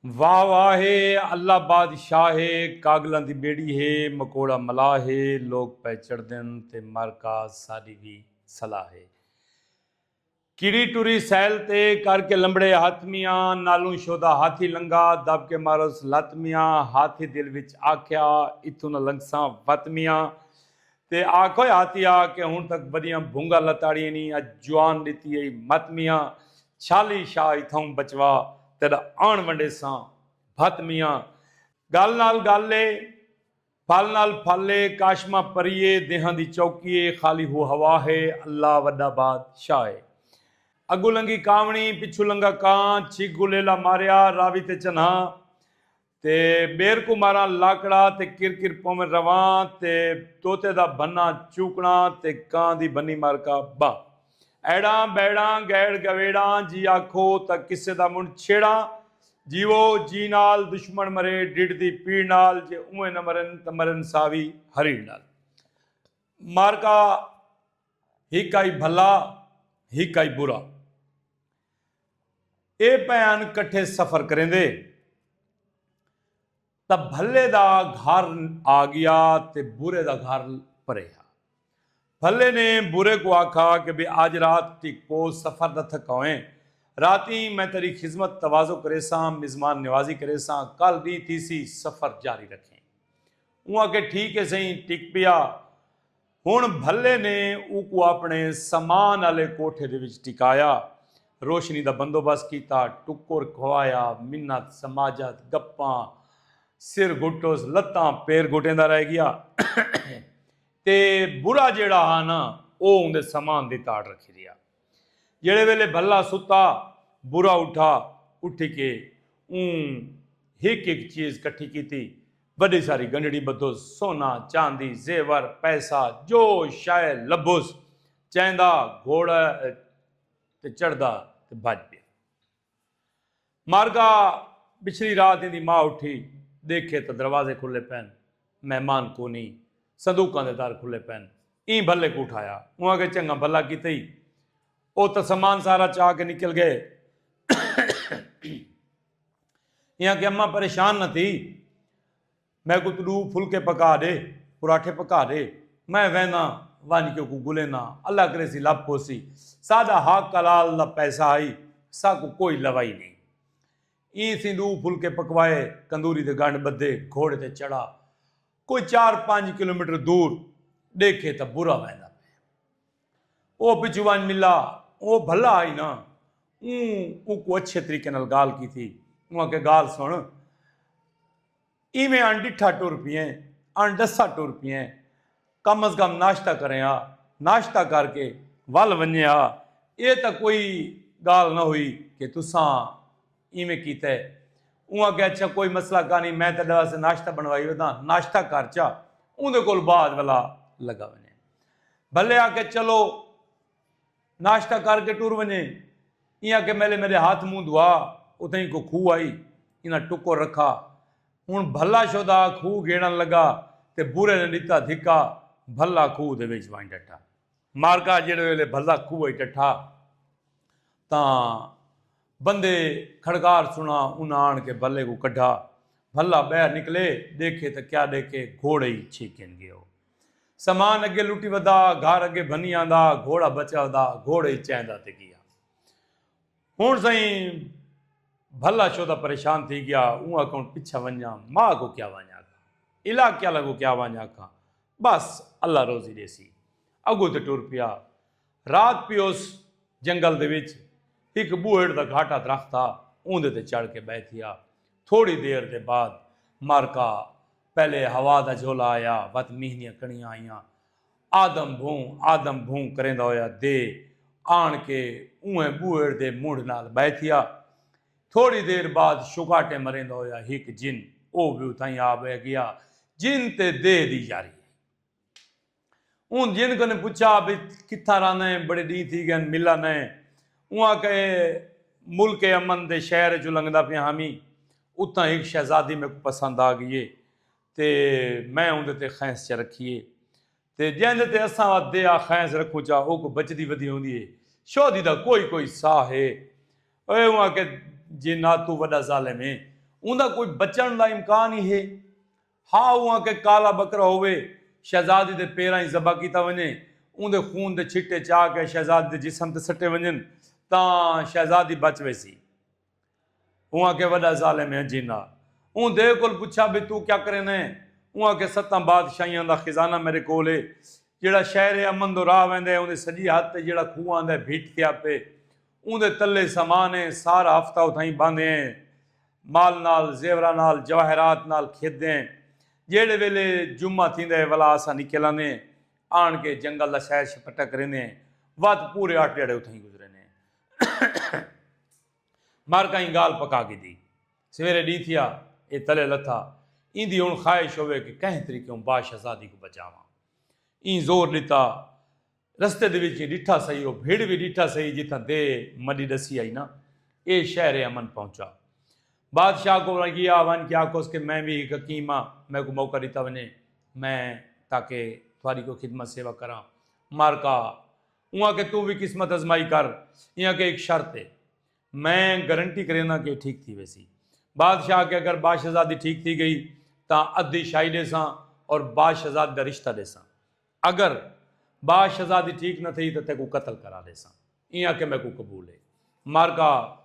واہ واہ ہے اللہ بادشاہ ہے کاگلاں دی بیڑی ہے مکوڑا ملاح ہے لوک پئے چڑھدن تے مر کاز ساڈی وی صلاح ہے کیڑی ٹری سیل تے کر کے لمبڑے ہتھ میاں نالوں شودا ہاتھی لنگا دب کے ماروس لت میاں ہاتھی دل وچ آکھیا اتھوں نہ لنگساں وت میاں تے آکھوئے آتی آ کہ ہن تک وڈیاں بھونگا لتاڑیے نی اج جوان ڈتی ائی مت میاں چھالی شاہ اتھاؤں بچوا تیڈا آن ونڈیساں بھت میاں گل نال گل اے پھل نال پھل اے کاشمہ پری اے دیہاں دی چوکی اے خالی ہو ہوا ہے اللہ وڈا باد شاہ اے اگوں لنگھی کاونڑی پچھوں لنگھا کاں چھک گلیلا ماریا راوی تے چنھاں تے ٻیر کوں ماراں لاکڑا تے کر کر پوون رواں تے طوطے دا بھناں چوکڑاں تے کاں دی بھنی مار کا ٻا ایڑاں بیڑاں گئیڑ گویڑاں جی آکھو تاں قصے دا منڈھ چھیڑاں جیوو جی نال دشمن مرے ڈڈھ دی پیڑ نال جے اونویں نہ مرن تاں مرن ساوی ہریڑ نال مار کا ہک آئی بھلا ہک آئی برا۔ اے پئن کٹھے سفر کریندے تاں بھلے دا گھر آ گیا تے برے دا گھر پرے ہا۔ بھلے نے برے کوں آکھا کہ بے آج رات تیکو سفر دا تھکاویں۔ راتیں میں تیڈی خذمت تواضع کریساں، مزمان نوازی کریساں، کل ڈینہہ تھیسی سفر جاری رکھیں۔ اوں آکھے ٹھیک ہے سئیں، ٹک پیا۔ ہن بھلے نے اوکوں آپݨے سامان آلے کوٹھے دے وچ ٹکایا۔ روشنی دا بندوبست کیتا۔ ٹکر کھوایا۔ منت، سماجت، گپاں، سر گھٹس، لتاں، پیر گھٹیندا رہ گیا۔ تے برا جیڑھا ہا نا او اوندے سامان دی تاڑ رکھی رہیا۔ جیڑھے ویلے بھلا ستا، برا اٹھا، اٹھی کے اوں ہک ہک چیز کٹھی کیتی، وڈی ساری گنڈڑی بدھوس، سونا، چاندی، زیور، پیسہ، جو شئے لبھوس، چیندا گھوڑا تے چڑھدا تے بھج پیا۔ مر گا بچھلی رات ایندی ماء اٹھی دیکھے تاں دروازے کھلے پین مہمان کونی صندوقاں دے در کھلے پین ایں بھلے کوں اٹھایا اوں آکھیا چنگا بھلا کیتے ای او تاں سامان سارا چا کے نکل گئے ایں آکھیا اماں پریشان نہ تھی میکوں توں ݙو پھلکے پکا ݙے، پراٹھے پکا ݙے، میں وینداں ونڄ کے اوکوں گھلینداں، اللہ کریسی لبھ پوسی، ساݙا حق حلال دا پیسہ ہئی، ساکوں کوئی لوائی نئیں۔ ایں سیں ݙو پھلکے پکوائے، کندوری دے ڳنڈھ ٻدھے، گھوڑے تے چڑھا، کوئی چار پنڄ کلومیٹر دور ݙیکھے تاں برا ویندا پئے۔ او پچھوں ونڄ ملا، او بھلا ہئی نا، اوں اوکوں اچھے طریقے نال ڳالھ کیتی، اوں آکھیا ڳالھ سݨ، ایویں اݨ ݙٹھا ٹر پئیں، اݨ ݙسا ٹر پئیں۔ کم از کم ناشتہ کریں ہا۔ ناشتہ کر کے ول ونڄیں ہا۔ ایہ تاں کوئی ڳالھ نہ ہوئی کہ تساں ایویں کیتے۔ اوں آکھیا اچھا کوئی مسئلہ کانی میں تیݙے واسطے ناشتہ بݨوائی وداں، ناشتہ کر چا اوندے کول بعد ولا لڳا ونڄیں۔ بھلے آکھیا چلو۔ ناشتہ کر کے ٹر ونجے۔ ایں آکھے میلے میڈے ہاتھ منہ دھوا۔ اتھائیں کو کھوہ ہئی۔ انہاں ٹکر رکھا۔ ہن بھلا شودا کھوہ گھیڑن لگا تے بھرے نے ڈتا دھکا۔ بھلا کھوہ دے وچ ونج ڈٹھا۔ مارکا جیڑھے ویلے بھلا کھوہ اچ ڈٹھا تاں بندے کھڑکار سنا انہاں آن کے بھلے کوں کڈھا۔ بھلا بہر نکلے ڈیکھے تاں کیا ڈیکھے گھوڑے ہی چھیکن گیو۔ سامان اگے لٹی ودا گھر اگے بھنی آندا گھوڑا بچا ودا گھوڑے ہی چیندا تے گیا ہن سائیں بھلا شودا پریشان تھی گیا اون اکاؤنٹ پیچھا ونجا ماں کو کیا وانجا کا علاقے والا کو کیا وانجا کا بس اللہ روزی دے سی اگو تے ٹور پیا رات پی اس جنگل دے وچ ایک بوہڑ دا گھاٹا درخت تھا اون دے تے چڑھ کے بیٹھیا تھوڑی دیر دے بعد مارکا پہلے ہوا دا جھولا آیا ودھ مینھ دیاں کݨیاں آئیاں آدم بھوں آدم بھوں کریندا ہویا دے آن کے اونہہ بوہڑ دے مونڈھ نال بہہ تھیا تھوڑی دیر بعد شکاٹیں مریندا ہویا ہک جن او وی اتھائیں آ بہہ گیا جن تے دے دی یاری ہئی۔ اوں جن کنوں پچھا بھئی کتھاں رہندے ہیں بڑے ڈینہہ تھی گئن ملا نئے اوں آکھیا اے ملک امن دے شہر اچوں لنگھدا پیاں ہامی اتھاں ہک شہزادی میکوں پسند آ گئی اے تے میں اوندے تے خیس چا رکھی اے تے جیندے تے اساں وا دے آ خیس رکھوں چا اوکوں بچدی ودی ہوندی اے شہدی دا کوئی کوئی ساہ اے اے اوں آکھیا جے ناتو وڈا ظالم اے اوندا کوئی بچن دا امکان ای ہے۔ ہا اوہاں کہ کالا بکرا ہووے، شہزادی دے پیراں اچ ذبح کیتا ونڄے، اوندے خون دے چھٹے چا کے شہزادی دے جسم تے سٹے ونڄن تاں شہزادی بچ ویسی۔ اوہاں کہ وݙا ظالم ہے جناں اوندے کول پچھا بھئی توں کیا کریندے؟ اوہاں کہ ستاں بادشاہیاں دا خزانہ میݙے کول ہے، جیہڑا شہر امن دو راہ ویندے اوندے سڄی ہتھ تے جیہڑا کھوہ آندا ہے بھٹ تھیا پئے۔ اوندے تلے سامان اے، سارا ہفتہ اتھائیں بھاندے ہیں۔ مال نال، زیوراں نال، جواہرات نال کھیدے ہیں۔ جیہڑے ویلے جمعہ تھیندا ہے ولا اساں نکل آندے ہیں۔ آن کے جنگل دا سیر شپٹہ کریندے ہیں۔ ودھ پورے اٹھ ڈھیاڑے اتھائیں گزریندے ہیں۔ مر کہیں گالھ پکا گھدی۔ سویرے ڈینہہ تھیا، اے تلے لتھا۔ ایندی ہن خواہش ہووے کہ کہیں طریقے اوں بادشاہزادی کوں بچاواں۔ ایں زور ڈتا۔ رستے دے وچ ڈٹھا سہی او بھیڑ وی ڈٹھا سہی جتھاں دے مڈی ڈسی آئی نا اے شہر امن پہنچا بادشاہ کو گیا ون کے آکھوس کہ میں وی ہک حکیم ہاں میں کو موقع ڈتا ونے میں تاکہ تھاری کو خدمت سیوا کراں مار کا اواں کہ تو وی قسمت ازمائی کر ایاں کہ ہک شرط ہے میں گارنٹی کرینا کہ ٹھیک تھی ویسی بادشاہ کے اگر باشزادی ٹھیک تھی گئی تاں ادھی شاہی ڈیساں اور باشزاد دا رشتہ ڈیساں اگر با شہزادی ٹھیک نہ تھئی تاں تیکوں قتل کرا ڈیساں۔ ایں آکھے میکوں قبول ہے۔ مارکا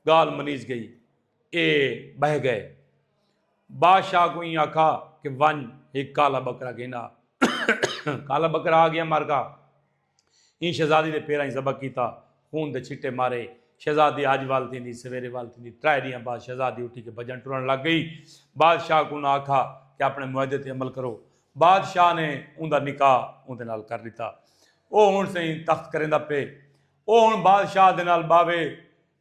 گالھ منیج گئی۔ اے بہہ گئے۔ با شاہ کوں ایں آکھا کہ ونج ہک کالا بکرا گھن آ۔ کالا بکرا آ گیا مارکا۔ ایں شہزادی دے پیراں اچ ذبح کیتا، خون دے چھٹے مارے۔ شہزادی اج وال تھیندی، سویرے وال تھیندی، ترائے ڈینہاں بعد شہزادی اٹھی کے بھجݨ ٹرݨ لگ گئی۔ بادشاہ کوں انہاں آکھا کہ اپݨے معاہدے تے عمل کرو۔ بادشاہ نے اوندا نکاح اوندے نال کر ݙتا۔ او ہݨ سئیں تخت کریندا پئے۔ او ہݨ بادشاہ دے نال ٻاہوے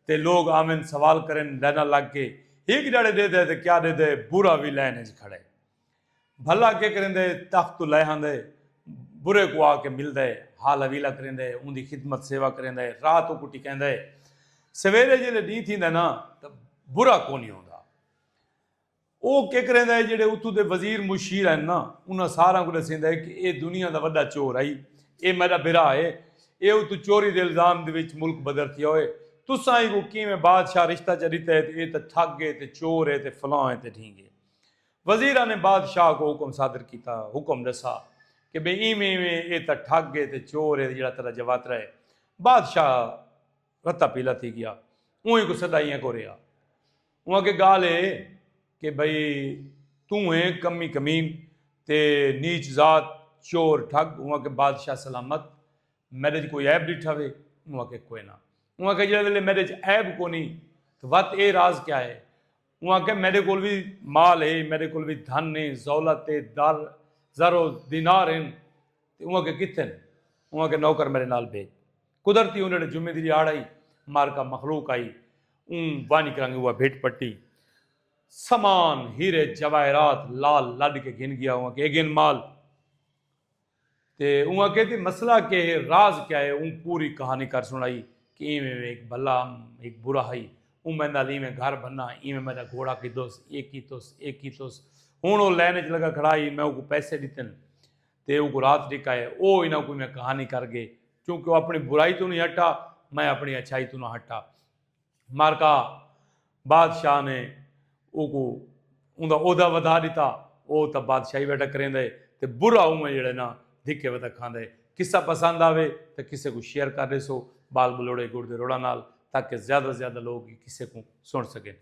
تے لوک آون سوال کرن لائناں لڳ کے، ہک ݙاڑھے ݙیدھے تے کیا ݙیدھے، بھورا وی لائن اچ کھڑے۔ بھلا کے کریندے تخت توں لہہ آندے برے کو آ کے ملدے حال حویلا کریندے اوندی خدمت سیوا کریندے رات اوکوں ٹکیندے سویرے جیلے ڈینہہ تھیندے نا تاں برا کونی ہوندا او کے کریندے جیڑے اتھوں دے وزیر مشیر ہن نا انہاں ساراں کوں ڈسیندے کہ اے دنیا دا وڈا چور ہئی اے میڈا بھرا ہے اے اتوں چوری دے الزام دے وچ ملک بدر تھیا ہوئے تساں ایکوں کیویں بادشاہ رشتہ چا ڈتے ہے تے اے تاں ٹھگ ہے تے چور ہے تے فلاں ہے تے ڈھینگ ہے۔ وزیراں نے بادشاہ کوں حکم صادر کیتا، حکم ڈسا کہ بے ایویں ایویں اے تاں ٹھگ اے تے چور اے جیڑھا تیڈا جواترا اے۔ بادشاہ رتا پیلا تھی گیا۔ اونہہ کوں سدا اینہہ کوں رہیا۔ اونہہ آکھے گالھ اے کہ بھئی توں اے کمی کمین تے نیچ ذات، چور، ٹھگ۔ اونہہ آکھے بادشاہ سلامت میڈے اچ کوئی عیب ڈٹھا وے؟ اونہہ آکھے کوئنہ۔ اونہہ آکھے جیڑھے ویلے میڈے اچ عیب کونہی تاں وت اے راز کیا اے؟ اوں آکھیا میڈے کول وی مال ہے، میڈے کول وی دھن ہے، زولت ہے، در، زر و دینار ہن تے اوں آکھیا کتھے ہن؟ اوں آکھیا نوکر میڈے نال بھیج۔ قدرتی اوں جیڑھے جمعے دی ریاڑ ہئی، معرکہ مخلوق ہئی، اوں ونج کرنگ اوہا بھٹ پٹی۔ سامان، ہیرے جواہرات لال لڈ کے گھن گیا، اوں آکھیا اے گھن مال۔ تے اوں آکھیا جی مسئلہ کے ہے راز کیا ہے اوں پوری کہانی کر سنڑائی کہ ایویں ایویں ہک بھلا ام ہک برا ہئی اوں میں نال ایویں گھر بھنا ایویں میں دا گھوڑا کھدوس اے کیتوس اے کیتوس ہن او لین اچ لگا کھڑا ہئی میں اوکوں پیسے ڈتن تے اوکوں رات ڈکھائے او انہاں کوں ایویں کہانی کر گئے چونکہ او اپنی برائی توں نی ہٹا میں اپنی اچھائی توں نہ ہٹا۔ معرکہ بادشاہ نے اوکوں اوندا عہدہ ودھا ݙتا او تاں بادشاہی ویٹا کریندے ہے تے برا اونویں جیڑھے نا دھکے ودا کھاندے ہے قصہ پسند آوے تاں کسے کوں شیئر کر ݙیسو بال بلوڑے گڑ دے روڑاں نال تاکہ زیادہ زیادہ لوگ ایں قصے کوں سݨ سڳن۔